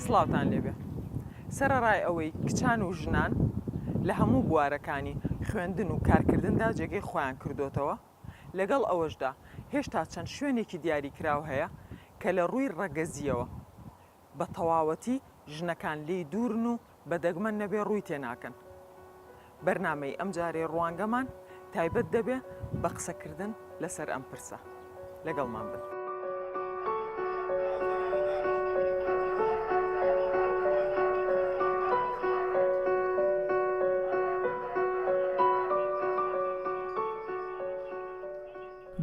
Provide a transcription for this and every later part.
سڵاوتان لێبێ سەرڕای ئەوەی کچان و ژنان لە هەموو بوارەکانی خوێندن و کارکردندا جێگەی خۆیان کردوتەوە لەگەڵ ئەوەشدا هێشتا چەند شوێنێکی دیاری کراو هەیە کە لە ڕووی ڕەگەزیەوە بە تەواوەتی ژنەکان لێی دوورن و بە دەگمەن نەبێ ڕووی تێ ناکەن. بەرنامەی ئەمجارەی ڕوانگەمان تایبەت دەبێ بە قسەکردن لەسەر ئەم پرسە. لەگەڵمان بن.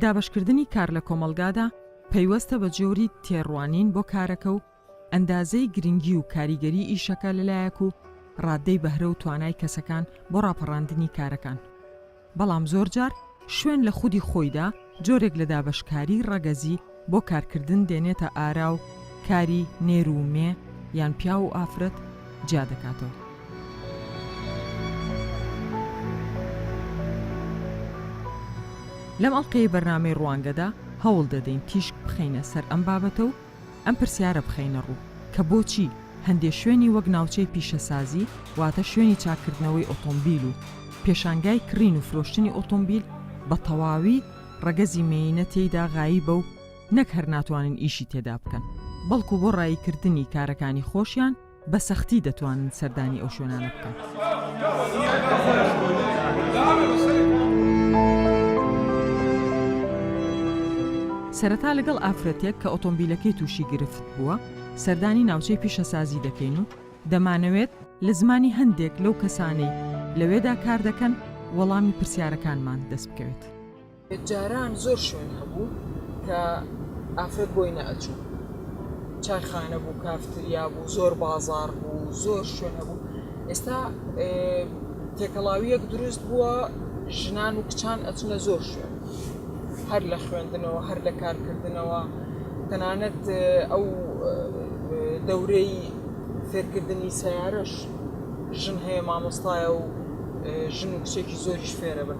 دابەشکردنی کار لە کۆمەڵگادا. پەیوەستە بە جۆری تێڕوانین بۆ کارەکە و ئەندازەی گرنگی و کاریگەری ئیشەکە لەلایەک و ڕاددەی بەهرە و توانای کەسەکان بۆ ڕاپەڕاندنی کارەکان بەڵام زۆرجار شوێن لە خودی خۆیدا جۆرێک لە دابەشکاری ڕەگەزی بۆ کارکردن دێنێتە ئارا و کاری نێر و مێ یان پیاو و ئافرەت جیا دەکاتەوە. لەم ئەڵقەی بەرنامەی ڕوانگەدا هەوڵ دەدەین تیشک بخەینە سەر ئەم بابەتە و ئەم پرسیارە بخەینە ڕوو کە بۆچی هەندێ شوێنی وەک ناوچەی پیشەسازی واتە شوێنی چاککردنەوەی ئۆتۆمبیل و پێشانگای کڕین و فرۆشتنی ئۆتۆمبیل بە تەواوی ڕەگەزی مێینە تێیدا غاییبە و نەک هەر ناتوانن ئیشی تێدا بکەن بەڵکو بۆ ڕاییکردنی کارەکانی خۆشیان بە سەختی دەتوانن سەردانی ئەو شوێنانە بکەنسەرەتا لەگەڵ ئافرەتێک کە ئۆتۆمبیلەکەی تووشی گرفت بووە سەردانی ناوچەی پیشەسازی دەکەین و دەمانەوێت لە زمانی هەندێک لەو کەسانەی لەوێدا کار دەکەن وەڵامی پرسیارەکانمان دەست بکەوێت. جاران زۆر شوێن هەبوو کە ئافرەت بۆی نەئەچوو چایخانە بوو کافتریا بوو زۆر بازار بوو زۆر شوێن هەبوو ئێستا تێکەڵاویەک دروست بووە ژنان و کچان ئەچنە زۆر شوێن هەر لە خوێندنەوە هەر لە کارکردنەوە تەنانەت ئەو دەورەی فێرکردنی سیارەش ژن هەیە مامۆستایە و ژن و کچێکی زۆریش فێرە بن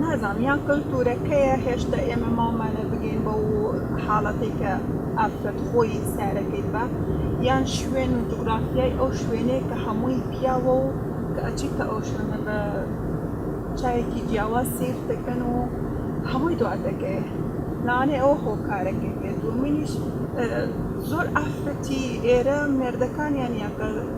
نازانم یان کلتورەکەیە هێشتا ئێمە ماومانە بگەین بە و حاڵەتی کە ئافرەت خۆی سارەکەی بە یان شوێن و جوگرافیای ئەو شوێنەیە کە هەمووی پیاوە و کە ئەچیتە ئەو شوێنە بە چاوێکی جیاواز سیر دەکەن و هەمووی دوا دەکەێ لانێ ئەو هۆکارەکەی بێت دومینیش زۆر ئافرەتی ئێرە مێردەکانیان یاکە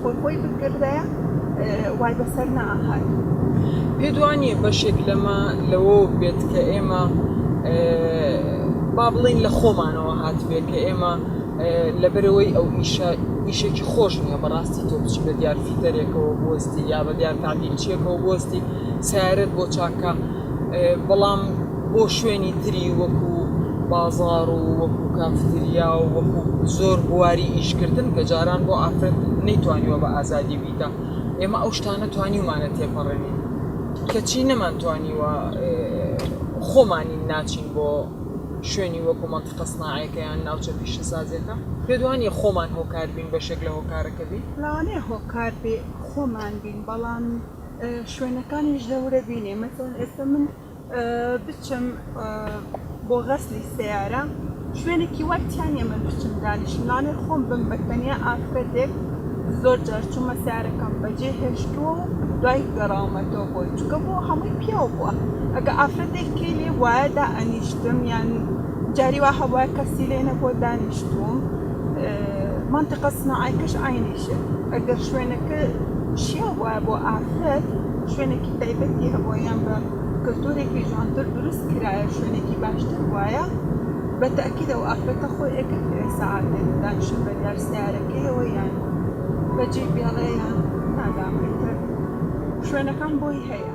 خۆ خۆی بکردایە وای بەسەر نەئەهات. پێت وانییە بەشێک لەمە لەوەوە بێت کە ئێمە با بڵێین لە خۆمانەوە هاتبێ کە ئێمە لەبەرەوەی ئەو ئیشە ئیشێکی خۆش نییە بەڕاستی تۆ بچی بە دیار فیتەرێکەوە بوەستی یا بە دیار تابیلچیەکەەوە بوەستی سیارەت بۆ چاکە بەڵام بۆ شوێنی تری وەکو بازاڕ و وەکو کافتریا و وەکو زۆر بواری ئیشکردن کە جاران بۆ ئافرەت نەیتوانیوە بە ئازادی بیکە ئێمە ئەو شتانە توانیومانە تێپەڕێنین کەچی نەمانتوانیوە خۆمانین ناچین بۆ شوێنی وەکو منطقە سناعەکەیان ناوچە پیشەسازیەکە پێدوانی خۆمان هۆکار بین بەشێک لە هۆکارەکە بین لەوانەیە هۆکار بێ خۆمان بین بەڵام شوێنەکانیش دەورە بینێ مەسەن ئێستا من بچم بۆ غەسلی سەیارە شوێنێکی وای تیا نیە من بچم دانیشم لانێ خۆم بم بە تەنیا ئافرەتێک زۆر جار چوومە سیارەکەم بەجێ هێشتووە و دوای گەڕاومەتەوە بۆی چکە بۆ هەمووی پیاو بووە ئەگە ئافرەتێک کەی لێ وایەدا ئەنیشتم یان جاری وا هەبواە کەسی لێ نەبووە دانیشتوم منطقە سناعەکەش عینیشە ئەگەر شوێنەکە شیا وایە بۆ ئافرەت شوێنێکی تایبەتی هەبووە یان بە کلتورێکی جوانتر دروست کرایە شوێنێکی باشتر بوایە بە تەئکید ئەو ئافرەتە خۆی ئەکرد کە ئێستا عادەت دانیشتن بە دیار سەیارەکەیەوە یان بە جی بێڵێ یان نازانم ئیتر شوێنەکان بۆی هەیە.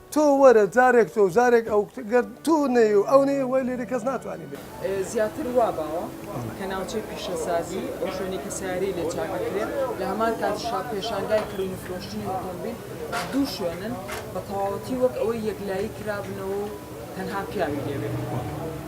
تۆ وەرە جارێک تۆو جارێک ئەو گەر تۆ نەی و ئەو نەی وای لێرە کەس ناتوانێ بێ. زیاتر وا باوە کە ناوچەی پیشەسازی ئەو شوێنەی کە سەیارەی لێ چاک ئەکرێ لە هەمان کاتیشا پێشانگای کڕین و فرۆشتنی ئۆتۆمبیل دوو شوێنن بە تەواوەتی وەک ئەوەی یەکلایی کرابنەوە و تەنها پیاوی لێ بێ.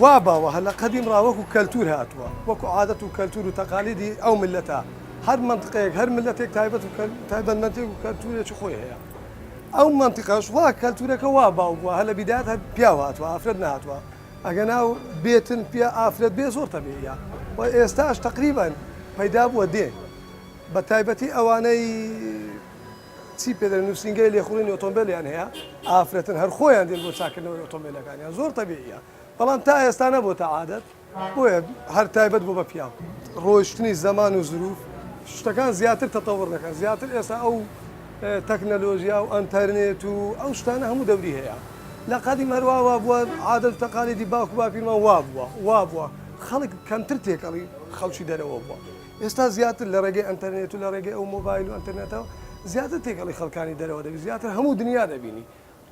وا باوە هەر لە قەدیم ڕا وەکوو کەلتوور هاتووە، وەکوو عادەت و کەلتوور و تەقالیدی ئەو میللەتە، هەر مەنتقێک، هەر میللەتێک تایبەت و تایبەتمەندێک و کەلتوورێکی خۆی هەیە. ئەو مەنتقەش وا کەلتوورەکە وا باو بووە، هەر لە بیدایەت هەر پیاو هاتووە، ئافرەت نەهاتووە، ئەگەنا و بێتن پیا ئافرەت بێ زۆر تەبیعییە و ئێستاش تەقریبەن پەیدا بووە دێ، بە تایبەتی ئەوانەی، چی پێدەرێ نوسینگەی لێخوڕینی ئۆتۆمبێلیان هەیە ئافرەتن هەر خۆیان دێن بۆ چاکردنەوەی ئۆتۆمبێلەکانیان زۆر تەبیعیە بەڵام تا ئێستا نەبۆتە عادەت بۆیە هەر تایبەت بۆ بە پیاو ڕۆیشتنی زەمان و زروف شتەکان زیاتر تەتەوڕ دەکەن زیاتر ئێستا ئەو تەکنەلۆژیا و ئەنتەرنێت و ئەو شتانە هەموو دەوری هەیە لە قەدیم هەروا وا بووە عادەت و تەقالیدی باوک و باپیرمان وا بووە وا بووە خەڵک کەمتر تێکەڵی خەڵکی دەرەوە بووە ئێستا زیاتر لە ڕێگەی ئەنتەرنێت و لە ڕێگەی ئەو مۆبایل و ئەنتەرنێتەوە زیاتر تێکەڵی خەڵکانی دەرەوە دەبی زیاتر هەموو دنیا دەبینی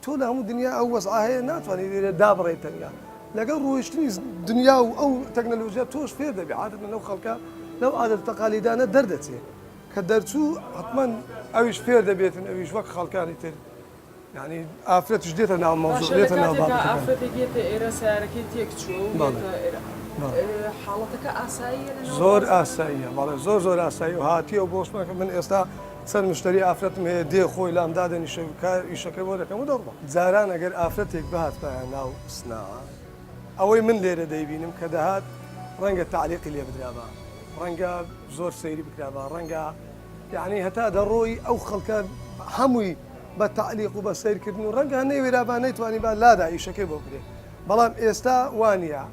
تۆ لە هەموو دنیا ئەو وەزعە هەیە ناتوانانی لێرە دابڕێی تەنیا لەگەڵ ڕۆیشتنی دنیا و ئەو تەکنەلۆژیا تۆش فێر دەبی عادەتەن لەو خەڵکە لەو عادەت تەقالیدانە دەردەچێ کە دەرچوو حتمەن ئەویش فێر دەبێتن ئەویش وەک خەڵکانی تر یانی ئافرەتیش دێتە ناو مەوزوع باشە لە دێتە ناو کاتێکا بابەتەکان ئافرەتێک یەتە ئێرە سیارەکەی تێک چووە و بەڵێ یەتە ئێرە بەڵێ ئێ، حاڵەتەکە ئاساییە لە ناو زۆر بازاڕ؟ ئاساییە بەڵێ زۆر زۆر ئاسایی و هاتیەوە بۆ شمان کە من ئێستا چەند مشتری ئافرەتم هەیە دێ خۆی لام دادەنیشێ کا ئیشەکەی بۆ دەکەم و دەڕوا جاران ئەگەر ئافرەتێک بهاتبایە ناو سناعە ئەوەی من لێرە دەیبینم کە دەهات ڕەنگە تەعلیقی لێ بدرابا ڕەنگە زۆر سەیری بکرابا ڕەنگە یەعنی هەتا دەڕۆی ئەو خەڵکە هەمووی بە تەعلیق و بە سەیرکردن و ڕەنگە نەیوێرابا نەیتوانیبا لادا ئیشەکەی بۆ بکرێ بەڵام ئێستا وا نییە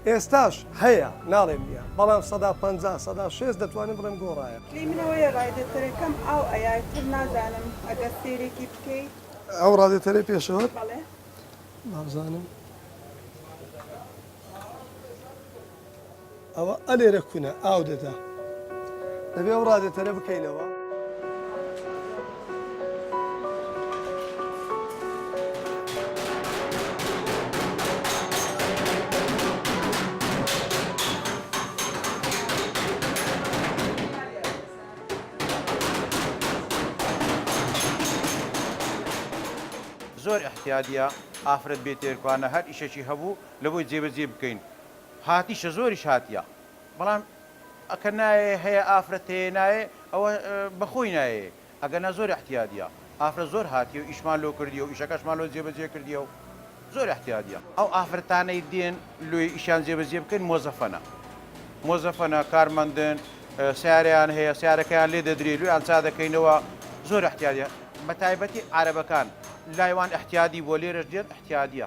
ئێستاش هەیە ناڵێم نییە بەڵام سەدا پەنجا سەدا شێست دەتوانم بڵێم گۆڕایە. لێی من ئەوەیە ڕایدەتەرەکەم ئاو ئەیات تر نازانم ئەگەر سەیرێکی بکەی. ئەو ڕادێتەرەی پێشەوەت؟ بەڵێ. بابزانم. ئەوە ئەلێرە کونە ئاو دەدا دەبێ ئەو ڕادێتەرە بکەینەوە. زۆر ئیحتیادیە ئافرەت بێ تێرکوانە هەر ئیشەکی هەبوو لەبۆی جێبەجێی بکەین هاتیشە زۆریش هاتیە بەڵام ئەکە نایێ هەیە ئافرەت هەیە نایێ ئەوە بەخۆی نایێ ئەگەنا زۆر احتیادیە ئافرەت زۆر هاتیەو ئیشمان لۆ کردیەو ئیشەکەشمان لۆ جێبەجێ کردیەو زۆر احتیادیە ئەو ئافرەتانەی دێن لۆی ئیشیان جێبەجێ بکەین مۆزەفەنە مۆزەفەنە کارمەندن سیارەیان هەیە سیارەکەیان لێ دەدرێ لۆیان چا دەکەینەوە زۆر احتیادیە بەتایبەتی عارەبەکان لای وان احتیادی بوە لێرەش دێن احتیادیە.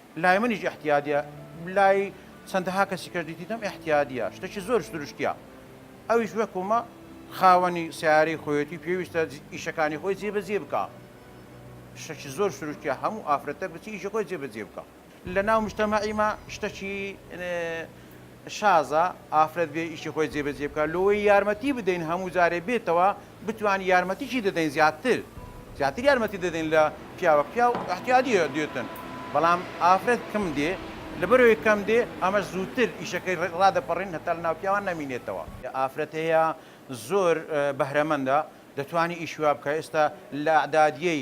لای منیش ئیحتیادیە لای چەندەها کەسی کەش دیتیتم ئیحتیادیە شتەکی زۆر سروشتیە ئەویش وەکومە خاوەنی سیارەی خۆیەتی پێویستە ئیشەکانی خۆی جێبەجێ بکە شتەکی زۆر سروشتیە هەموو ئافرەتە بچی ئیشە خۆی جێبەجێ بکە لە ناو مشتەمەعیمە شتەکی شازە ئافرەت بێ ئیشی خۆی جێ بەجێ بکات لۆیی یارمەتی بدەین هەموو جارێ بێتەوە بتوان یارمەتیشی دەدەین زیاتر زیاتر یارمەتی دەدەین لە پیاوە پیاو احتیادیە دێتن بەڵام ئافرەت کم دێ لەبەرەوەی کەم دێ ئەمەش زووتر ئیشەکەی ڕادەپەڕین هەتا لە ناو پیاوان نەمینێتەوە. ئافرەت هەیە زۆر بەهرەمەندە دەتوانی ئیشی وا بکا ئێستا لە اعدادیەی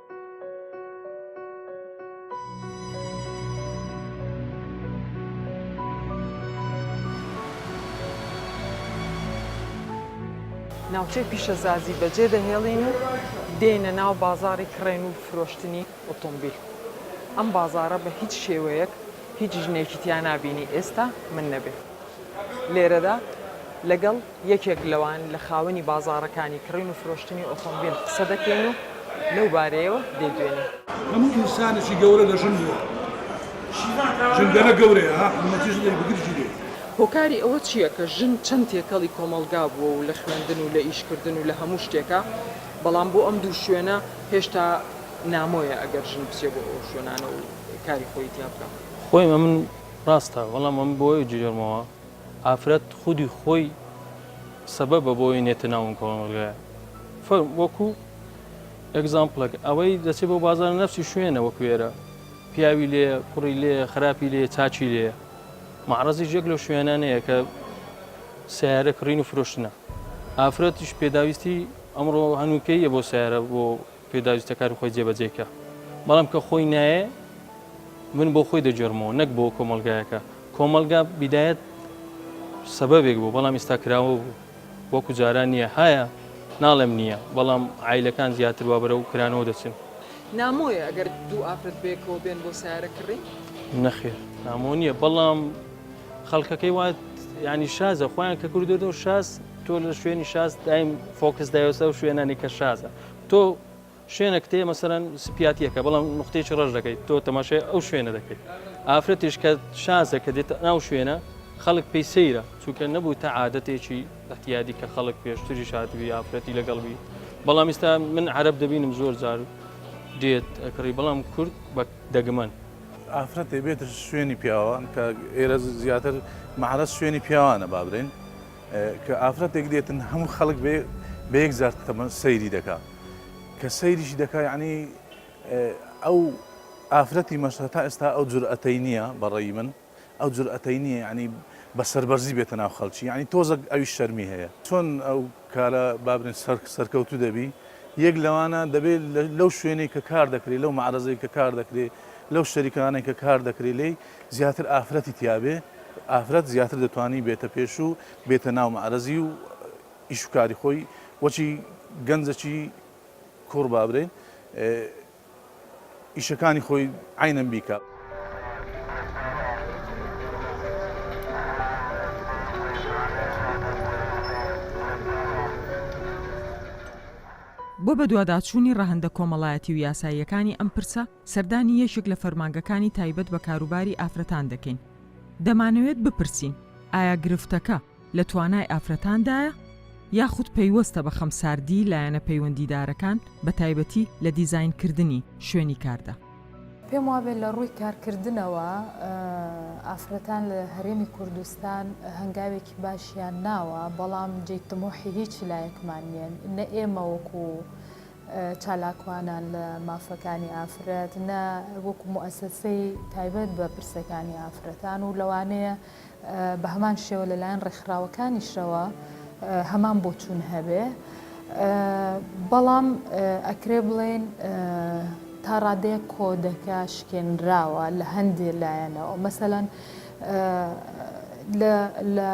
ناوچەی پیشەسازی بەجێ دەهێڵین و دێینە ناو بازاڕی کڕێن و فرۆشتنی ئۆتۆمبیل ئەم بازارە بە هیچ شێوەیەک هیچ ژنێکی تیا نابینی ئێستا من نەبێ لێرەدا لەگەڵ یەکێک لەوان لە خاوەنی بازاڕەکانی کڕین و فرۆشتنی ئۆتۆمبیل قسە دەکەین و لەو بارەیەوە دەیدوێین. هەموو ئینسانێکی گەورە لە ژن بووە. ژنگەلە گەورەیە ها حکومەتیش لێی بگر گیرێ. هۆکاری ئەوە چیە کە ژن چەند تێکەڵی کۆمەڵگا بووە و لە خوێندن و لە ئیش کردن و لە هەموو شتێکا بەڵام بۆ ئەم دوو شوێنە هێشتا نامۆیە ئەگەر ژن بچێ بۆ ئەو شوێنانە و کاری خۆی تیا بکا. خۆی ئەمن ڕاستە بەڵام ئەمن بۆ ئەوە جوێرمەوە. ئافرەت خودی خۆی سەبەبە بۆی نێتە ناو ئەم کۆمەڵگایە فەرم وەکو ئەگزامپلەک ئەوەی دەچێت بۆ بازار نەفسی شوێنە وەکو ئێرە پیاوی لێ کوڕی لێ خراپی لێ چاچی لێ معرەزی ژێک لەو شوێنانەیە کە سیارە کڕین و فرۆشتنە ئافرەتیش پێداویستی ئەمڕۆ هەنووکەیە بۆ سیارە بۆ پێداویستە کاری خۆی جێبەجێ بکا بەڵام کە خۆی نایێ من بۆ خۆی دەگێڕمەوە نەک بۆ کۆمەلگایەکە کۆمەلگا بیدایەت سەبەبێک بوو بەڵام ئێستا کراوە بوو وەکو جاران نییە هەیە ناڵێم نییە بەڵام عیلەکان زیاتر وا بەرەو کرانەوە دەچن نامۆیە ئەگەر دوو ئافرەت بەیەکەوە بێن بۆ سیارە کڕی؟ نەخێر نامۆ نییە بەڵام خەڵکەکەی وات ینی شازە خۆیان کە کردو شاز تۆ لە شوێنی شاز دایم فۆکس دایۆسە و شوێنانی کە شازە تۆ شوێنەکت هەیە مەسەلەن سپیاتییەکە بەڵام نقطەیەکی ڕەش دەکەیت تۆ تەماشای ئەو شوێنە دەکەیت ئافرەتیش کە شازە کە دێت ناو شوێنە خەڵک پێی سەیرە چونکە نەبوو تا عادەتێکی احتیادی کە خەڵک پێشتری شادبی ئافرەتی لەگەڵبی بەڵام ئستا من عرب دەبینم زۆر جار دێت ئەکڕی بەڵام کورد بە دەگمەن ئافرەتێ بێت شوێنی پیاوان کە ئێرە زیاتر مەعرەس شوێنی پیاوانە بابرێن کە ئافرەتێک دێتن هەموو خەڵک بێ بە یەکجار تەمەن سەیری دەکا کە سەیریشی دەکا یعنی ئەو ئافرەتی مەسە تا ئێستا ئەو جورئەتەی نییە بەڕێی من ئەو جورئەتەی نییە ینی بە سەربەرزی بێتە ناو خەڵکی ینی تۆزەک ئەوی شەرمی هەیە چۆن ئەو کارە بابرین سەر سەرکەوتو دەبی یەک لەوانە دەبێت لەو شوێنێک کە کار دەکرێت لەو معرەزەی کە کار دەکرێت لەو شەریکانێک کە کار دەکرێت لی زیاتر ئافرەتی تیابێ ئافرەت زیاتر دەتوانی بێتە پێش و بێتە ناو مەعرەزی و ئیش و کاری خۆی وەچی گەنجەکی کوڕ با برێ ئیشەکانی خۆی عینەن بیکا. بۆ بەدواداچوونی ڕەهەندە کۆمەڵایەتی و یاساییەکانی ئەم پرسە، سەردانی یەکێک لە فەرمانگەکانی تایبەت بە کاروباری ئافرەتان دەکەین، دەمانەوێت بپرسین ئایا گرفتەکە لە توانای ئافرەتاندایە یاخود پەیوەستە بە خەمساردیی لایەنە پەیوەندیدارەکان بەتایبەتی لە دیزاینکردنی شوێنی کاردا؟ پێم وابێت لە ڕووی کارکردنەوە ئافرەتان لە هەرێمی کوردستان هەنگاوێکی باشیان ناوە، بەڵام جێی تموحی هیچ لایەکمان نییە، نە ئێمە وەکو چالاکوانان لە مافەکانی ئافرەت، نە وەکو موئەسەسەی تایبەت بە پرسەکانی ئافرەتان و لەوانەیە بە هەمان شێوە لەلایەن ڕێکخراوەکانیشەوە هەمان بۆچوون هەبێ. بەڵام ئەکرێ بڵێین تا ڕادەیەک کۆدەکە شکێنراوە لە هەندێ لایەنەوە. مەسەلەن لە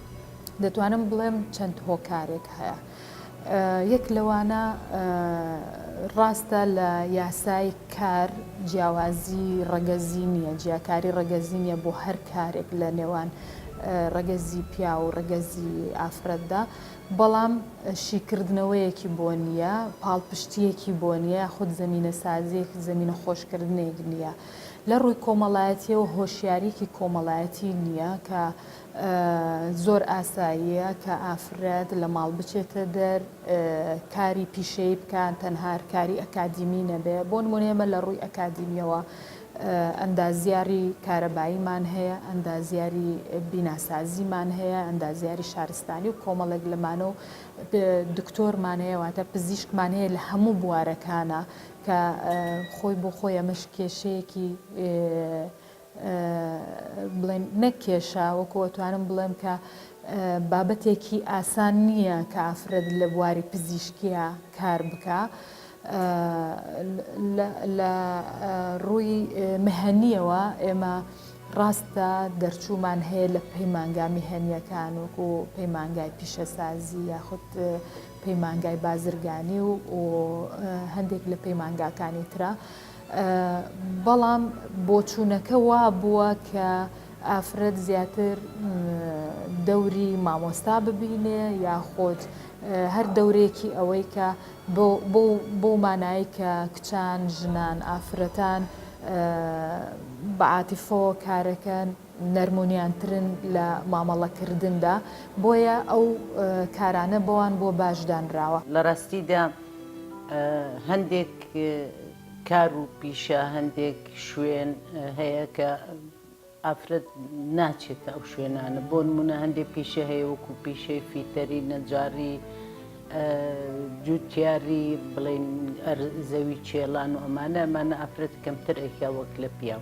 دەتوانم بڵێم چەند هۆکارێک هەیە. یەک لەوانە ڕاستە لە یاسای کار جیاوازی ڕەگەزی نییە، جیاکاری ڕەگەزی نییە بۆ هەر کارێک لە نێوان ڕەگەزی پیاو و ڕەگەزی ئافرەتدا، بەڵام شیکردنەوەیەکی بۆ نییە، پاڵپشتییەکی بۆ نییە یاخود زەمینەسازییەک، زەمینەخۆشکردنێک نییە. لە ڕووی کۆمەڵایەتییەوە هۆشیارییەکی کۆمەڵایەتی نییە کە زۆر ئاساییە کە ئافرەت لە ماڵ بچێتە دەر کاری پیشەیی بکات تەنها کاری ئەکادیمی نەبێ بۆ نمونە ئێمە لە ڕووی ئەکادیمیەوە ئەندازیاری کارەباییمان هەیە ئەندازیاری بیناسازیمان هەیە ئەندازیاری شارستانی و کۆمەڵێک لەمانە و دکتۆرمان هەیە واتە پزیشکمان هەیە لە هەموو بوارەکانە کە خۆی بۆ خۆی ئەمەش کێشەیەکی بڵێم نەک کێشە وەکو ئەتوانم بڵێم کە بابەتێکی ئاسان نییە کە ئافرەت لە بواری پزیشکیا کار بکا لە ڕووی مهنیەوە ئێمە ڕاستە دەرچوومان هەیە لە پەیمانگا میهنیەکان وەکو پەیمانگای پیشەسازی یاخود پەیمانگای بازرگانی و هەندێک لە پەیمانگاکانی ترە بەڵام بۆچوونەکە وا بووە کە ئافرەت زیاتر دەوری مامۆستا ببینێ یاخۆد هەر دەورێکی ئەوەی کە بۆ مانایی کە کچان، ژنان، ئافرەتان بە عاتیفەوە کارەکەن، نەرمونیانترن لە مامەڵە کردندا بۆیە ئەو کارانە بەوان بۆ باش دانراوە. لە ڕاستیدا هەندێک کار و پیشە هەندێک شوێن هەیە کە ئافرەت ناچێتە ئەو شوێنانە بۆ نمونە هەندێک پیشە هەیە وەکو پیشەی فیتەری نەجاری جوتیاری بڵێن زەوی چێڵان و ئەمانە ئەمانە ئافرەت کەمتر ئەیکا وەک لە پیاو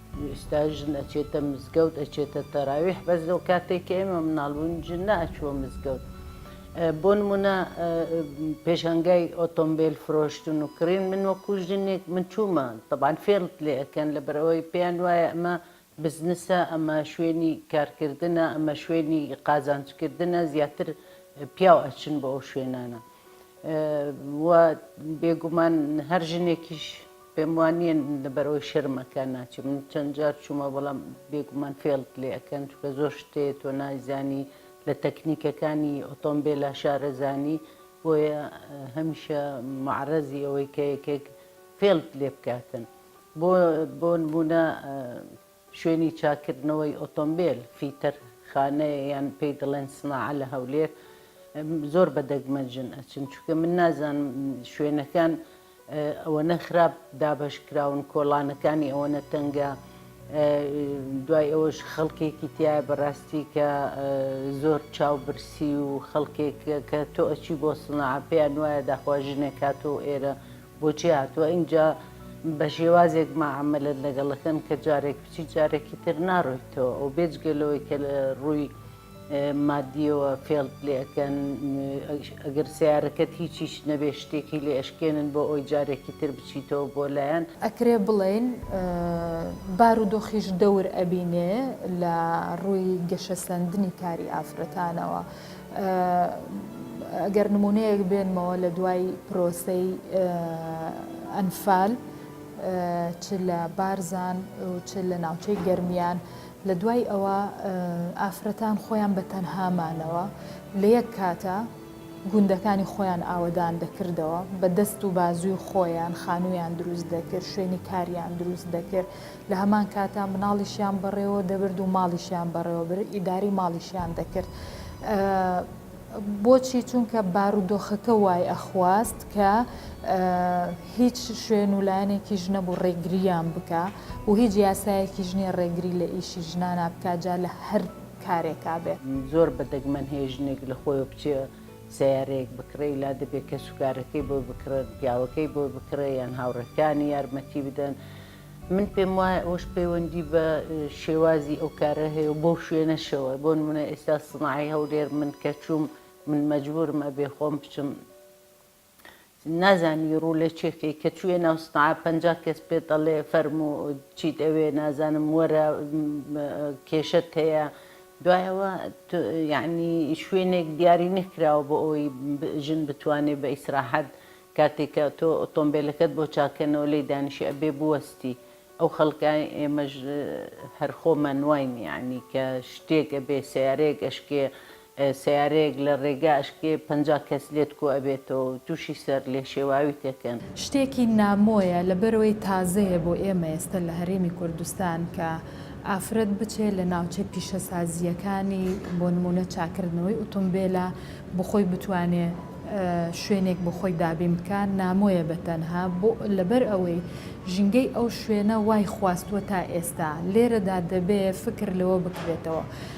ئێستا ژن ئەچێتە مزگەوت ئەچێتە تەراویح بەس لەو کاتێک کە ئێمە مناڵ بووین ژن نەئەچووە مزگەوت بۆ نمونە پێشانگای ئۆتۆمبیل فرۆشتن و کڕین من وەکو ژنێک من چوومە تەبان فێڵت لێ ئەکەن لەبەرەوەی پێیان وایە ئەمە بزنسە ئەمە شوێنی کارکردنە ئەمە شوێنی قازانجکردنە زیاتر پیاو ئەچن بۆ ئەو شوێنانە و بێگومان هەر ژنێکیش پێم وا نییە لەبەر ئەوەی شەرمەکە ناچێت من چەند جار چوومە بەڵام بێگومان فێڵت لێ ئەکەن چونکە زۆر شت هەیە تۆ نایزانی لە تەکنیکەکانی ئۆتۆمبێلا شارەزانی بۆیە هەمیشە مەعرەزی ئەوەی کە یەکێک فێڵت لێ بکاتن بۆ بۆ نموونە شوێنی چاککردنەوەی ئۆتۆمبێل، فیتەر خانەیە یان پێی دەڵێن سناعە لە هەولێر، زۆر بە دەگمەنژن ئەچن، چونکە من نازانم شوێنەکان ئەوەنە خراپ دابەشکراون، کۆڵانەکانی ئەوەنە تەنگە، دوای ئەوەش خەڵکێکی تیایە بەڕاستی کە زۆر چاوبرسی و خەڵکێک کە تۆ ئەچی بۆ سناعە پێیان وایە داخوا ژنێک هاتووە ئێرە بۆچی هاتووە ئینجا بە شێوازێک مەعامەلەت لەگەڵ ئەکەن کە جارێک بچیت جارێکی تر ناڕۆیتەوە و بێجگە لەوەی کە لە ڕووی مادیەوە فێڵت لێ ئەکەن ئەگەر سەیارەکەت هیچیش نەبێ شتێکی لێ ئەشکێنن بۆ ئەوەی جارێکی تر بچیتەوە بۆ لایان. ئەکرێ بڵێین بارودۆخیش دەور ئەبینێ لە ڕووی گەشەسەندنی کاری ئافرەتانەوە ئەگەر نموونەیەک بێنمەوە لە دوای پرۆسەی ئەنفال چ لە بارزان و چ لە ناوچەی گەرمیان لە دوای ئەوە ئافرەتان خۆیان بە تەنهامانەوە لە یەک کاتە گوندەکانی خۆیان ئاوەدان دەکردەوە بە دەست و بازووی خۆیان خانوویان دروست دەکرد شوێنی کاریان دروست دەکرد لە هەمان کاتا مناڵیشیان بەڕێوە دەبرد و ماڵیشیان بەڕێوە بر ئیداری ماڵیشیان دەکرد بۆچی چونکە بارودۆخەکە وای ئەخواست کە هیچ شوێن و لایەنێکی ژنە بۆ ڕێگریان بکە و هیچ یاسایەکی ژنیە ڕێگری لە ئیشی ژنانە بکجا لە هەر کارێکا بێ زۆر بەدەگمەن هەیە ژنێک لە خۆی بچێ سەیارەیەک بکڕێی لا دەبێ کەسوکارەکەی بۆی بکڕێت، پیاوەکەی بۆی بکڕێ یان هاوڕێکانی یارمەتی بدەن، من پێم وایە ئەوەش پەیوەندی بە شێوازی ئەو کارە هەیە و بەو شوێنەشەوە، بۆ نموونە ئێستا سناعەی هەولێر من کە چووم من مەجبوورم ئەبێ خۆم بچم، نازانی ڕوو لە چێ کەی کە چوویە ناو سنعا پەنجا کەس پێت ئەڵێ فەرموو چیت ئەوێ نازانم وەرە کێشەت هەیە دوای ئەوە یەعنی شوێنێک دیاری نەکراوە بۆ ئەوەی ژن بتوانێ بە ئیسراحەت کاتێک کە تۆ ئۆتۆمبێلەکەت بۆ چاککەنەوە لێی دانیشی ئەبێ بوەستی ئەو خەڵکە ئێمەش هەر خۆمان واین یەعنی کە شتێک ئەبێ سەیارەیەک ئەشکێ سەیارەیەک لە ڕێگا ئەشکێ پەنجا کەس لێت کۆ ئەبێتەوە و تووشی سەر لێشێواویت ئەکەن. شتێکی نامۆیە لەبەرئەوەی تازەیە بۆ ئێمە ئێستە لە هەرێمی کوردستان کە ئافرەت بچێ لە ناوچەی پیشەسازییەکانی بۆ نموونە چاکردنەوەی ئوتومبێلە بۆ خۆی بتوانێ شوێنێک بۆ خۆی دابین بکا نامۆیە بە تەنها بۆ لەبەر ئەوەی ژینگەی ئەو شوێنە وای خواستووە تا ئێستا لێرەدا دەبێ فکر لەوە بکرێتەوە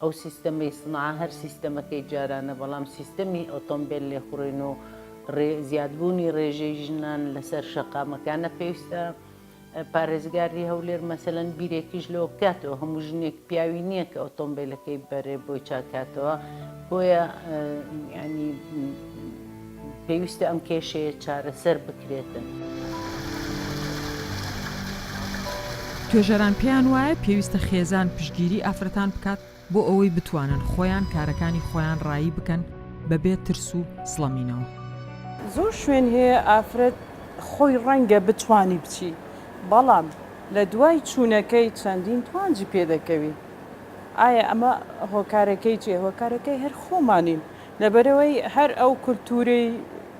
ئەو سیستەمەی سنعا هەر سیستەمەکەی جارانە، بەڵام سیستەمی ئۆتۆمبێل لێخوڕین و زیادبوونی ڕێژەی ژنان لەسەر شەقامەکانە پێویستە پارێزگاری هەولێر مەسەلەن بیرێکیش لەوە بکاتەوە هەموو ژنێک پیاوی نییە کە ئۆتۆمبێلەکەی بەرێ بۆی چاکاتەوە بۆیە ینی پێویستە ئەم کێشەیە چارەسەر بکرێتن. توێژەران پێیان وایە پێویستە خێزان پشتگیری ئافرەتان بکات بۆ ئەوەی بتوانن خۆیان کارەکانی خۆیان ڕایی بکەن بەبێ ترس و سڵەمینەوە. زۆر شوێن هەیە ئافرەت خۆی ڕەنگە بتوانی بچی بەڵام لە دوای چوونەکەی چەندین توانجی پێ دەکەوی ئایا ئەمە هۆکارەکەی چیە؟ هۆکارەکەی هەر خۆمانین لەبەرئەوەی هەر ئەو کولتوورەی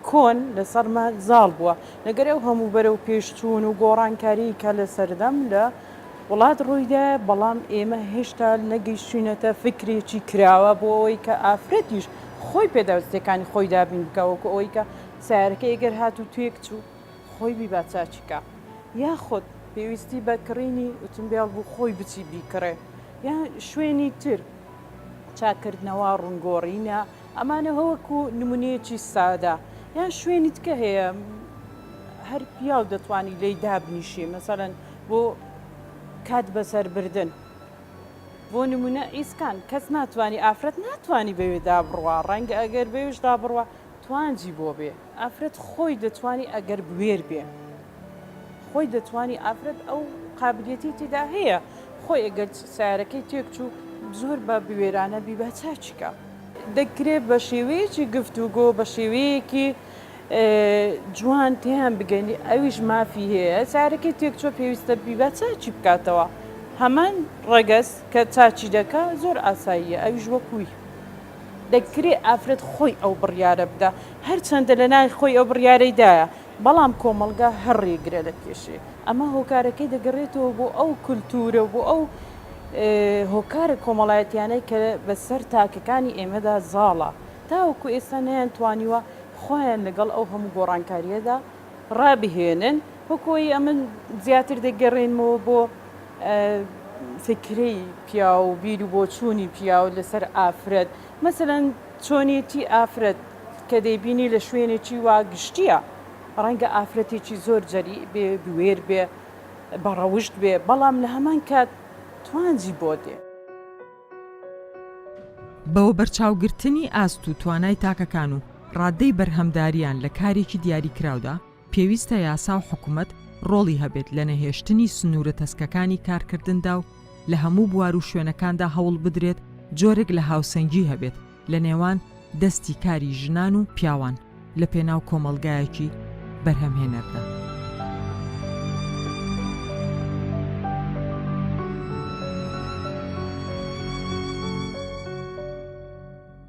کۆن لەسەرما زاڵ بووە، لەگەر ئەو هەموو بەرەو پێش چوون و گۆڕانکاریی کە لەسەردەم لە وڵات ڕوویدایە، بەڵام ئێمە هێشتا نەگەیشتووینەتە فیکرێکی کراوە بۆ ئەوەی کە ئافرەتیش خۆی پێداویستییەکانی خۆی دابین بکا، وەکو ئەوەی کە سەیارەکەی گەر هات و تێک چوو خۆی بیبا چاکی کا، یاخود پێویستی بە کڕینی ئوتومبێڵ بوو خۆی بچی بیکڕێ، یان شوێنی تر. چاککردنەوە، ڕونگۆڕینە، ئەمانە وەکو نمونەیەکی سادە یان شوێنی تکە هەیە هەر پیاو دەتوانی لێی دابنیشێ مەسەەن بۆ کات بەسەربردن بۆ نمونە ئیسکان کەس ناتوانانی ئافرەت ناتوانانی بەوێدا بڕوا ڕەنگە ئەگەر بەوێشدا بڕوە توانجی بۆ بێ ئافرەت خۆی دەتوانی ئەگەر بوێر بێ خۆی دەتوانی ئافرەت ئەو قابلیەتی تیدا هەیە خۆی ئەگەر سارەکەی تێک چوو زۆر بە بوێرانە بی با چاکی کا دەکرێ بە شێوەیەکی گفتوگۆ بە شێوەیەکی جوان تێیان بگەنی ئەویش مافی هەیە سارەکەی تێک چۆ پێویستە بی با چاکی بکاتەوە هەمان ڕەگەز کە چاکی دەکا زۆر ئاساییە ئەویش وەکوی. دەکرێت ئافرەت خۆی ئەو بڕیارە بدا، هەرچەندە لە ناوی خۆی ئەو بڕیارەی دایە، بەڵام کۆمەڵگا هەر ڕێگرە دەکێشێ. ئەمە هۆکارەکەی دەگەڕێتەوە بۆ ئەو کولتوورە و بۆ ئەو هۆکارە کۆمەڵایەتییانەی کە بە سەر تاکەکانی ئێمەدا زاڵە، تاوەکو ئێستا نەیانتوانیوە خۆیان لەگەڵ ئەو هەموو گۆڕانکارییەدا ڕابهێنن. وەکو ئەوەی ئەمن زیاتر دەگەڕێنمەوە بۆ. فیکری پیاو و بیر و بۆچوونی پیاو لەسەر ئافرەت، مەسەلەن چۆنێتی ئافرەت کە دەیبینی لە شوێنێکی وا گشتییە، ڕەنگە ئافرەتێکی زۆر جەریء بێ، بوێر بێ، بە ڕەوشت بێ، بەڵام لە هەمان کات توانجی بۆ دێ. بە وەبەرچاوگرتنی ئاست و توانای تاکەکان و ڕادەی بەرهەمدارییان لە کارێکی دیاریکراودا، پێویستە یاسا و حکومەت ڕۆڵی هەبێت لە نەهێشتنی سنوورە تەسکەکانی کارکردندا و لە هەموو بوار و شوێنەکاندا هەوڵ بدرێت جۆرێک لە هاوسەنگی هەبێت لە نێوان دەستی کاری ژنان و پیاوان لە پێناو کۆمەڵگایەکی بەرهەمهێنەردا.